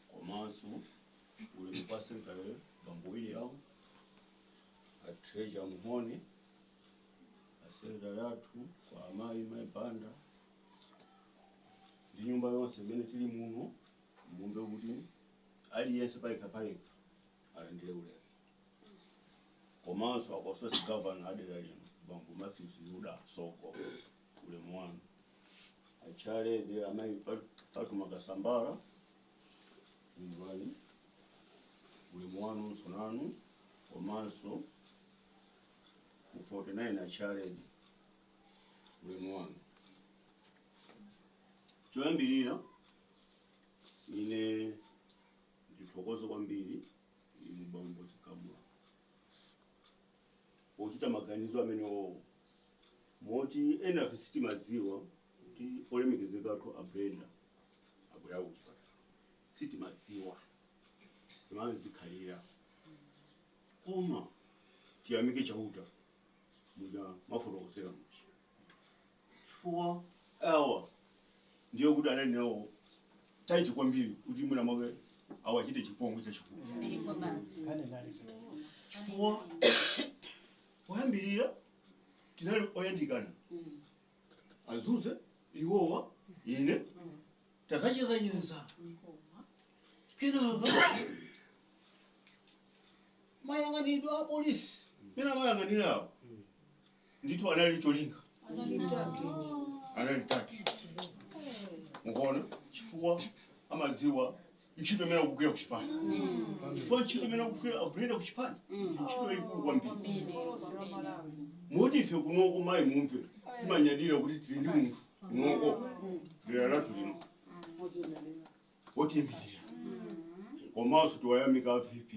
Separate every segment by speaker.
Speaker 1: komanso ulemu kwa secretary bambo william a treasurer muhone asekretary athu kwa amayi mayi banda ndi nyumba yonse imene tili muno mumve kuti aliyense payekha payekha alandire ulemu komanso a constituency gavana adera lino bambo matthews yuda soko ulemu wanu achairlady amayi patuma kasambala mvani ulemu wanunso nanu komanso 49 achairlady ulemu wanu choyambirira ine ndithokoze kwambiri inu bambo chikamula pochita maganizo amenewowo moti enafe sitimadziwa kuti olemekezeka athu abrenda agonekedwa kuchipatala sitimadziwa timazikhalira koma tiyamike chauta muja mmafotokozera muja chifukwa awa ndiye kuti anali nawo taiti kwambiri kuti mwina mwake awachite chipongwe chachikulu chifukwa poyambirira tinali oyandikana azuze iwowa ine takachezacheza kenaka mayang'anidwe a polisi mmene amayang'anirawo ndithu anali ndi cholinga anali target mukuona chifukwa amadziwa ntchito imene akugwira kuchipani chifukwa ntchito imene akugwira akugwira kuchipani ndi ntchito yayikulu kwambiri moti ife kunoko mayi mumve timanyadira kuti tili ndi munthu kunoko dera lathu lino otiimirira komanso tiwayamike avp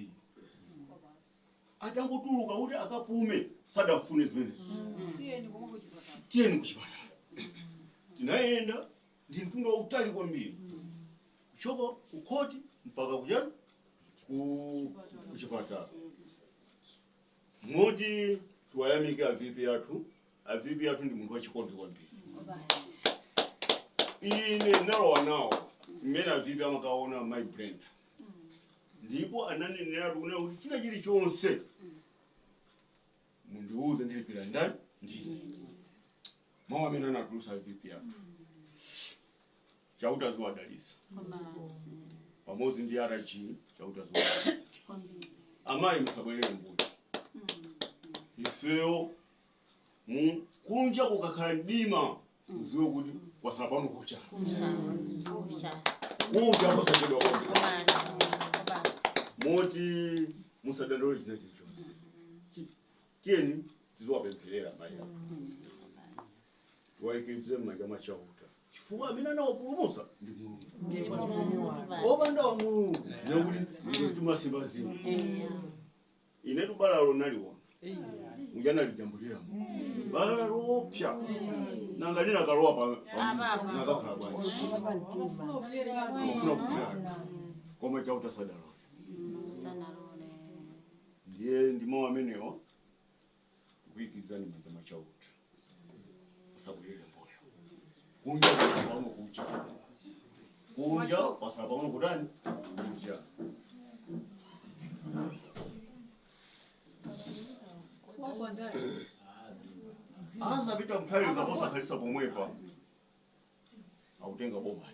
Speaker 1: atangotuluka kuti akapume sadafune zimenezo tiyeni konko kuchipatala tiyeni kuchipatala tinayenda ndi mtunda wautali kwambiri kuchoka kukhoti mpaka kujani ku kuchipatala moti tiwayamike avipi athu avipi athu ndi munthu wachikondi kwambiri ine ndinalowa nawo mmene avipi amakaona mayi brenda ndipo ananeneratu kunena kuti china chilichonse mundiuze ndilipira ndani ndine mawu amene anatulusa avipi athu chauta aziwadalitsa pamodzi ndi rg chauta aziwadalitsa amayi musabwerere mbuyo ifeyo mu kunja kukakhala mdima udziwe kuti kwatsala pang'ono kucha kucha posachedwa kucha moti musadandaule china chilichonse Chi- tiyeni tiziwapempherera mayi Tiwaikize m'manja mwa Chauta chifukwa amene anawapulumutsa ndi Mulungu. Akadapanda Mulungu ndiye kuti ife tikanasimba zina. Inetu balalo naliona uja nalijambulira bala loopsa nanga linakalowa pa pa- nakakhala bwanji amafuna kupirana koma Chauta sadalole ndiye ndi mawu amenewo kuikizani m'manja mwa chauta musabwerere mbuyo kunja kwatsala pang'ono kucha kunja kwatsala pang'ono kutani kucha asapita patali kaya posakhalitsa pomwepa akutenga boma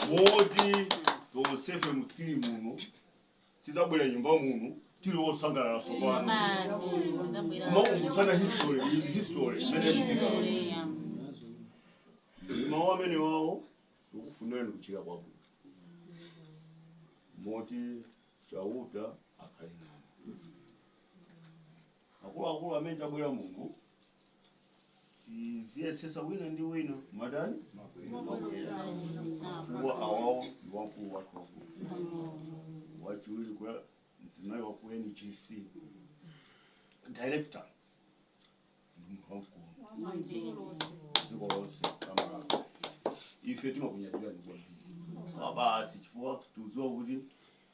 Speaker 1: moti tonsefe tili muno tidzabwera m'nyumba muno tili wosangalala tsopano kumakumbutsana history history imene yachitika ndi mawu amenewawo tikufunirani kuchira kwabwino moti chauta akhale nanu Akuluakulu amene tabwera muno tiziyesetsa wina ndi wina kumatani kumabwera kwa awawo ndi wamkulu wathu wakulu wachiwiri kwa mzimayi wa ku NGC director ndi munthu wamkulu dziko lonse la Malawi ife timakunyadirani kwambiri mabwana chifukwa tikudziwa kuti